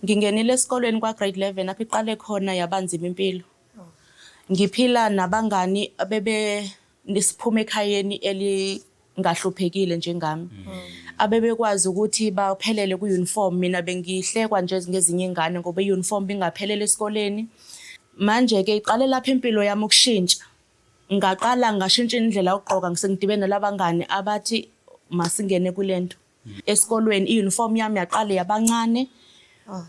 Ngingenile esikolweni kwa-grade 11 apho iqale khona yaba nzima impilo. Ngiphila nabangani abebe siphuma ekhayeni elingahluphekile njengami. Abebekwazi ukuthi baphelele ku-uniform, mina bengihlekwa nje ngezinye iy'ngane ngoba i-uniform bingaphelele esikoleni. Manje-ke iqale lapho impilo yami ukushintsha. Ngaqala ngashintsha indlela yokugqoka, sengidibene nalabangani abathi masingene kule nto. esikolweni i-uniform yami yaqale yabancane ah.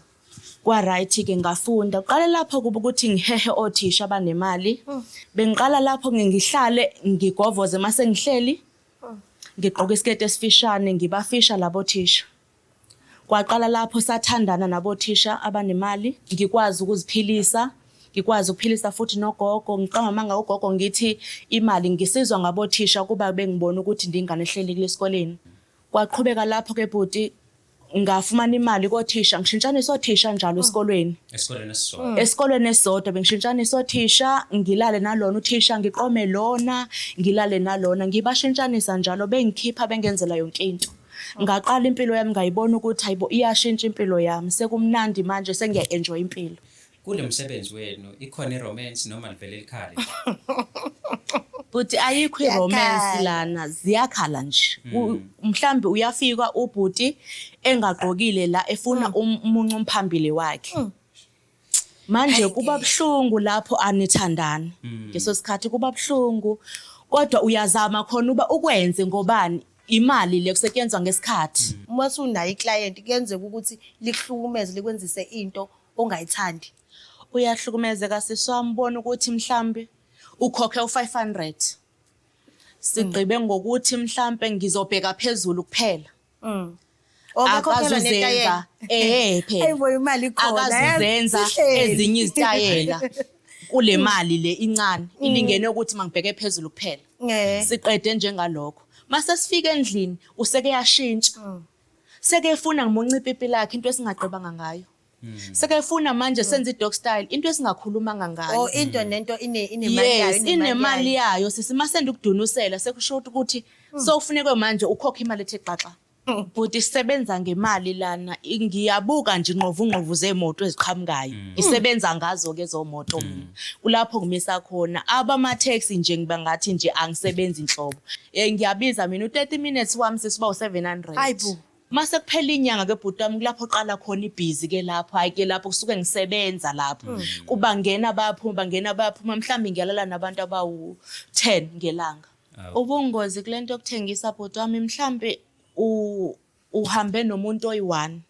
kwa-right-ke ngafunda uqale lapho kuba ukuthi ngihehe othisha abanemali ah. bengiqala lapho ngihlale ngigovoze uma sengihleli ah. ngigqoke isiketi esifishane ngibafisha labo thisha kwaqala lapho sathandana nabothisha abanemali ngikwazi ukuziphilisa ngikwazi ukuphilisa futhi nogogo ngiqamamanga ugogo ngithi imali ngisizwa ngabothisha ukuba bengibona ukuthi ndingane ehleli kulesikoleni kwaqhubeka lapho ke bhuti ngafumana imali kothisha ngishintshanisa othisha njalo hmm. esikolweni esikolweni esisodwa hmm. esikolweni esisodwa bengishintshanisa othisha ngilale nalona uthisha ngiqome lona ngilale nalona ngibashintshanisa njalo bengikhipha bengenzela yonke into ngaqala impilo yami ngayibona ukuthi hayibo iyashintsha impilo yami sekumnandi manje sengiya enjoy impilo Kulo msebenzi wenu ikhona iromance noma livele likhale nje? Bhuti ayikho iromance Yakhala. lana ziyakhala nje. U- Mhlambe uyafika ubhuti engagqokile la efuna um- umuncu umphambili wakhe. Manje kuba buhlungu lapho anithandani. Ngeso sikhathi kuba buhlungu kodwa uyazama khona uba ukwenze ngobani imali le kusetshenzwa ngesikhathi. uma sunayo iclient kuyenzeka ukuthi likuhlukumeze likwenzise into ongayithandi uyahlukumezeka sisi wami bona ukuthi mhlambe ukhokhe u500 sigqibe ngokuthi mhlambe ngizobheka phezulu kuphela mm. akazuzenza eh phela akazuzenza ezinye izitayela kule mm. mali le incane mm. ilingene ukuthi mangibheke phezulu kuphela siqede njengalokho mase sifika endlini useke yashintsha sekefuna ngimunca ipipi lakhe into esingagqibanga ngayo hmm. sekefuna manje senze i-dog style into esingakhulumanga ngayo oh, into nento yes inemali yayo sisi masenda ukudunusela sekusho ukuthi hmm. sowufunekwe manje ukhokha imali ethe xaxa hmm. bhuti isebenza ngemali lana ngiyabuka nje ingqovungqovu zeemoto eziqhamukayo isebenza ngazo-ke zomoto mina kulapho ngimisa khona abamatheksi nje ngiba ngathi nje angisebenzi nhlobo Eh ngiyabiza mina u30 minutes wami sesiba u700. Hayibo. Mase kuphela inyanga ke bhuti wami kulapho oqala khona ibhizi ke lapho hayi ke lapho kusuke ngisebenza lapho mm. kubangena bayaphuma bangena bayaphuma mhlawumbe ngiyalala nabantu abawu 10 ngelanga ubungozi kulento yokuthengisa bhuti wami mhlawumbe uhambe nomuntu oyi-one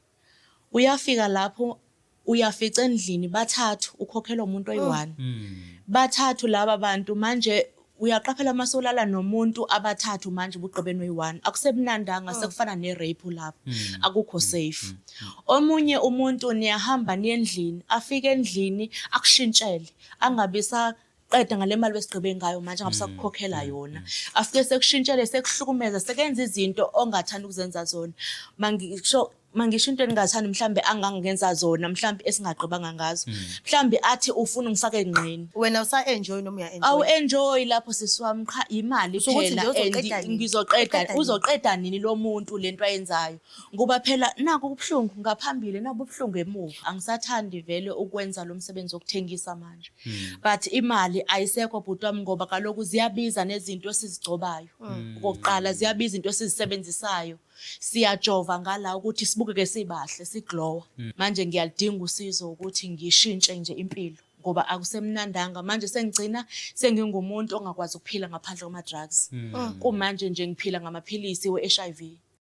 Uyafika lapho uyafica endlini bathathu ukhokhelwa umuntu oh. oyi-one hmm. bathathu laba bantu manje uyaqaphela uma solala nomuntu abathathu manje ubugqibeni oyi-one akusebunandanga oh. sekufana ne-rape lapho hmm. akukho hmm. safe omunye umuntu niyahamba niye endlini afike endlini akushintshele angabi sa qeda ngale mali besigqibe ngayo manje ngabe sakukhokhela mm, mm, yona mm. afike sekushintshele sekuhlukumeza sekenza izinto ongathanda ukuzenza zona mangisho mangisho into engingathanda mhlambe angangenza zona mhlambe esingagqibanga ngazo mhlambe athi ufuna ungifake engqini wena usa enjoy noma uya enjoy awu enjoy lapho sisiwami qha imali phela ngizoqeda uzoqeda nini lo muntu lento ayenzayo Ngoba phela naku ubuhlungu ngaphambili naku ubuhlungu emuva. Angisathandi vele ukwenza lo msebenzi wokuthengisa manje. Hmm. But imali ayisekho bhuti wami ngoba kaloku ziyabiza nezinto esizigcobayo. Hmm. Okokuqala ziyabiza into esizisebenzisayo. Siyajova ngala ukuthi sibukeke sibahle, siglowa. Hmm. Manje ngiyalidinga usizo ukuthi ngishintshe nje impilo ngoba akusemnandanga manje sengigcina sengingumuntu ongakwazi ukuphila ngaphandle kwama drugs. Kumanje nje ngiphila ngamaphilisi we-HIV.